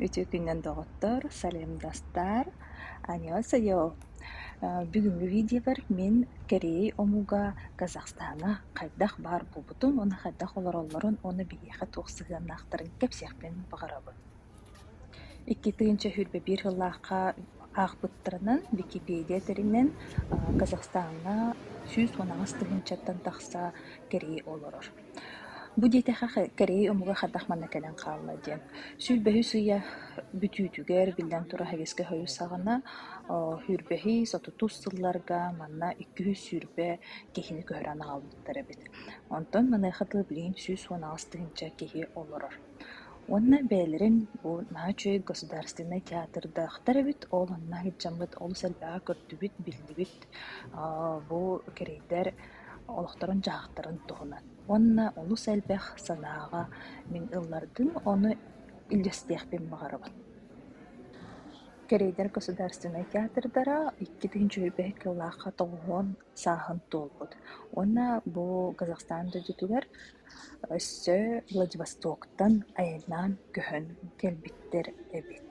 Үтүө күнүнэн доҕоттор, саламдастар, аньыасыйо! Бүгүҥҥү видеобар мин кэрий омуга Казахстана хайдах баар буолбутун уонна хайдах олороллорун уонна биһиэхэ туох сыһыаннаахтарын кэпсиэхпин баҕарабын. Икки тыһыынча сүүрбэ биир сыллаахха аахпыттарынан Википедия тэринэн Казахстаҥҥа сүүс уон аҕыс тыһыынчаттан тахса кэрий олорор. Бу диэтэххэ, кэрэйий омуга хайдах манна кэлэн хаалла диэн. Сүүрбэһис ыйа бүтүүтүгэр, биллэн турар, һэбиэскэ хойус саҕана, оо, сүүрбэһис, отутус сылларга манна икки үс сүүрбэ киһини көһөрөн аҕалбыттар эбит. Онтон маныаха дылы билигин сүүс уон аҕыс тыһыынча киһи олорор. Уонна бэйэлэрин бу наһаа үчүгэй государственнай театрдаахтар эбит, ол онно иһитдьэммит, олус элбэҕи көрдүбүт, биллибит. Аа, бу кэрэйдэр олохторун-дьаһахтарын туһунан уонна олус элбэх санааҕа мин ыллардым, ону үллэстиэхпин баҕарабын. Кэриэйдэр государственнай театрдара икки тыһыынча үһүбэһик сыллаахха тоҕуһун сааһын туолбут уонна бу Казахстан дойдутугар өссө Владивостоктан айаннаан көһөн кэлбиттэр эбит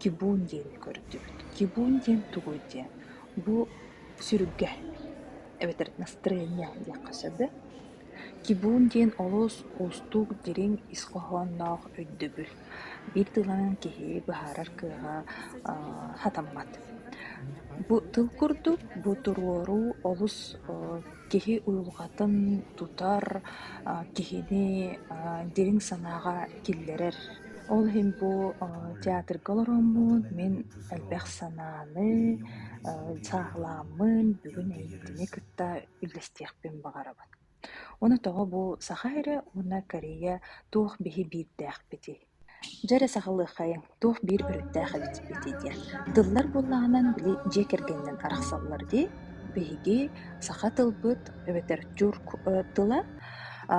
Кибун диэни көрдүбүт. Кибун диэн тугуй диэн, бу сүрүггэ эбэтэр настроение диэххэ сөбө. Кибун диэн олус уустук, дириҥ ис хоһоонноох өйдөбүл. Биир тылынан киһи быһаарар кыаҕа сатаммат. Бу тыл курдук, бу туруоруу олус Киһи уйулҕатын тутар, а, киһини а, дириҥ санааҕа киллэрэр. Ол иһин бу а, театрга олороммун мин элбэх санааны, а, сааһылааммын бүгүн эйиитини кытта үллэстиэхпин баҕарабын. Уонна тоҕо бу саха эрэ уонна Корея туох биһи биирдээхпитий? Дьэ эрэ саҕалыаххайыҥ, туох биир өрүттээх эбит эппитий диэн. Тыллар буоллаҕынан били дьиэ кэргэнинэн арахсаллар дии. Биһиги саха тылбыт эбэтэр тюрк э, тыла а,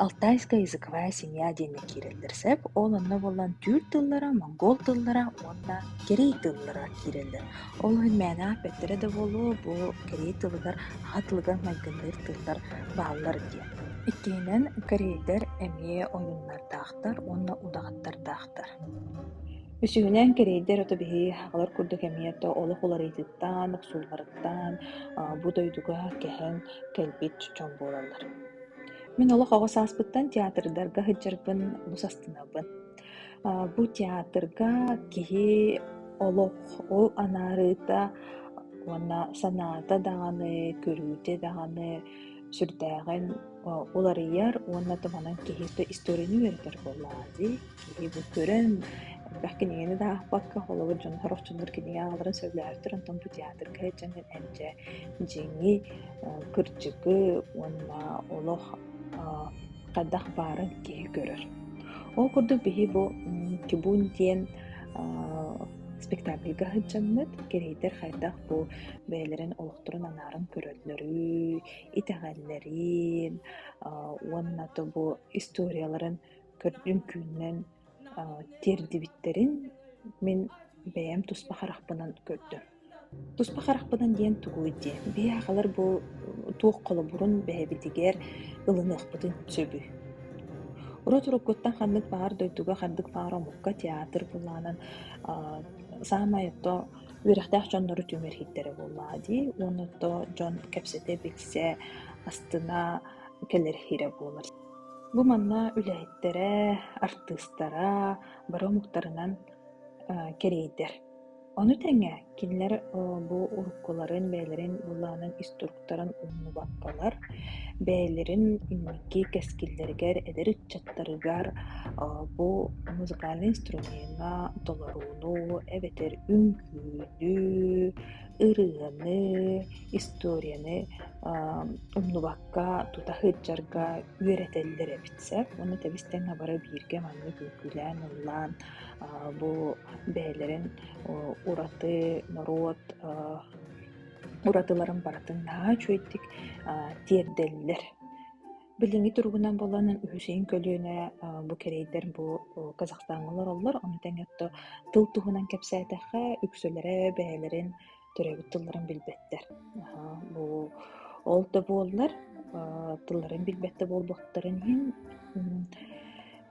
алтайская языковая семья диэҥҥэ киирэллэр сөп. Ол онно буолан түүр тыллара, монгол тыллара уонна кэрий тыллара киирэллэр. Ол иһин мээнэ аап эттэрэ да буолуо, бу кэрий тылыгар аҕа тылыгар майгынныыр тыллар бааллар диэн. Иккиһинэн, корейлэр эмиэ ойуннардаахтар. Аттар уонна удаҕаттардаахтар. Үсүһүнэн, кэриэйдэр ото биһи аҕалар курдук эмиэ ото олох уларыйыытыттан, охсуулларыттан бу дойдуга кэһэн кэлбит дьон буолаллар. Мин олох оҕо сааспыттан театрдарга сылдьарбын бус астынабын. Бу театрга киһи олох ол анаарыыта уонна санаата даҕаны, көрүүтэ даҕаны сүрдээҕин уларыйар уонна туманан киһи историяны үөрэтэр буоллаҕа дии. Киһи бу көрөн элбэх кинигэни да аахпакка, холобур дьон хорохчулуур кинигэ аалларын сөбүлээхтэр, онтон бу театрга эдьэҥҥин эдьэ дьиҥи, кырдьыгы уонна олох хайдах баарын киһи көрөр. Ол курдук биһи бу Кибун диэн спектакльга сылдьаммыт, кэриэйдэр хайдах бу бэйэлэрин олохторун анааран көрөллөрүй, итэҕэллэрин аа уонна тобу историяларын үҥкүүнэн аа тиэрдибиттэрин мин бэйэм туспа харахпынан көрдүм. Туспа харахпынан диэн тугуй диэн, биһиэхэлэр бу туох холобурун бэйэбитигэр ылыныахпытын сөбүй? Урут-уруккуттан ханнык баҕар дойдуга, ханнык баҕар омукка театр былаанын аа саамай ото үөрэхтээх дьоннору түмэр иһиттэрэ буоллаҕа дии уонна ото дьон кэпсэтэ-билсэ, астына кэлэр иһирэ буолар. Бу манна үлэһиттэрэ, артыыстара бары омуктарынан, э, кэриэйдэр. Ону тэҥэ кинилэр бу уруккуларын бэйэлэрин былаанын иструктуран умнубаппалар, бэйэлэрин инники кэскиллэригэр эдэр ыччаттарыгар бу музыкальнай инструмеҥҥа толорууну эбэтэр үҥкүүнү, ырыаны, историяны умнубакка тута сылдьарга үөрэтэллэр эбит сэ. Уонна тэбис тэҥэ бары бииргэ маннык үҥкүүлээн ыллаан бу бэйэлэрин ураты норуот уратыларын барытын наһаа үчүгэйдик тиэрдэллэр. Билиҥҥи туругунан буолан Үсүн көлүөнэ бу кэриэйдэр бу Казахстаҥҥа олороллор. Ону тэҥэ тыл туһунан кэпсээтэххэ, үксүлэрэ бэйэлэрин төрөөбүт тылларын билбэттэр. бу ол да буоллар тылларын билбэт да буолбуттарын иһин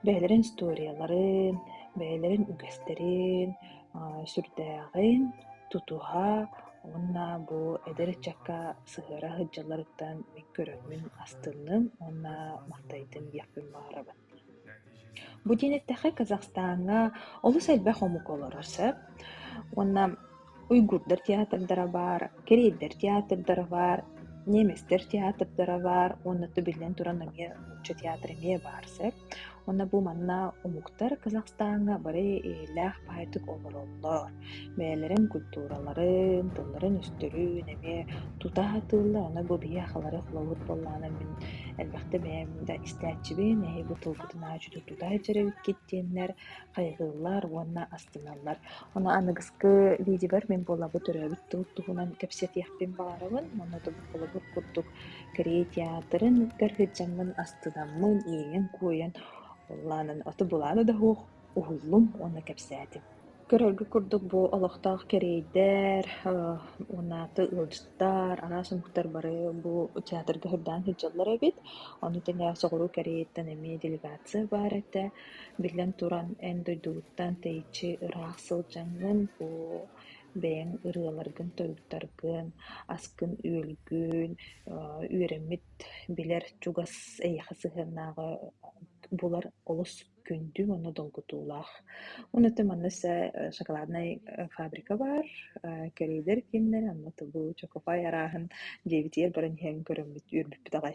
бэйэлэрин историяларын, бэйэлэрин үгэстэрин, сүрдээҕин тутуһа уонна бу эдэр ыччакка сыһыара сылдьалларыттан мин көрөммүн, астынным уонна махтайдым диэхпин баҕарабын. Бу диэн эттэххэ, Казахстаҥҥа олус элбэх омук олорор сөп. Уонна уйгурдар театрдара баар, кэриэйдэр театрдара баар, немецтэр театрдара баар уонна тубиллэн туран эмиэ нуучча театра эмиэ баар сөп. Уонна бу манна омуктар Казахстаҥҥа бары эйэлээх баайдык олороллор. бэйэлэрин культураларын, тылларын-өстөрүн эмиэ тута атыыллар. Аны бу биһиэхэлэри холобур буоллаҕына мин элбэхтэ бэйэм да истээччибин, эһиги бу тылгытын ааччыты тута илдьэр эбиккит диэннэр хайҕыыллар уонна астыналлар. Ону аныгыскы видеобар мин буолабы төрөөбүт тыл туһунан кэпсэтиэхпин баҕарабын. Оннотугар холобур курдук Корей театрын кытары сылдьаммын астынаммын, иэйэн-куойан, ол аанын ото булаана да суох уһуллум уонна кэпсээтим. Көрөргө курдук бу олохтоох кэриэйдэр, унааты ыалдьыттар, араас омуктар бары бу театрга сырдаан сылдьаллар эбит. Ону тэҥэ соҕуруу Кэриэйиттэн эмиэ делегация баар этэ. Биллэн туран, эн дойдугуттан тэйиччи ыраах сылдьаҥҥын, бу бэйэҥ ырыаларгын-тойуктаргын, аскын-үөлгүн, үөрэммит, билэр чугас эйиэхэ сыһыаннааҕы булар олус күндү уонна долгутуулаах. Уонна манна шоколаднай фабрика баар, кэриэдэр кииннэр, онно Чокофай арааһын дьиэбитигэр баран иһэн көрөммүт, үөрбүппүт аҕай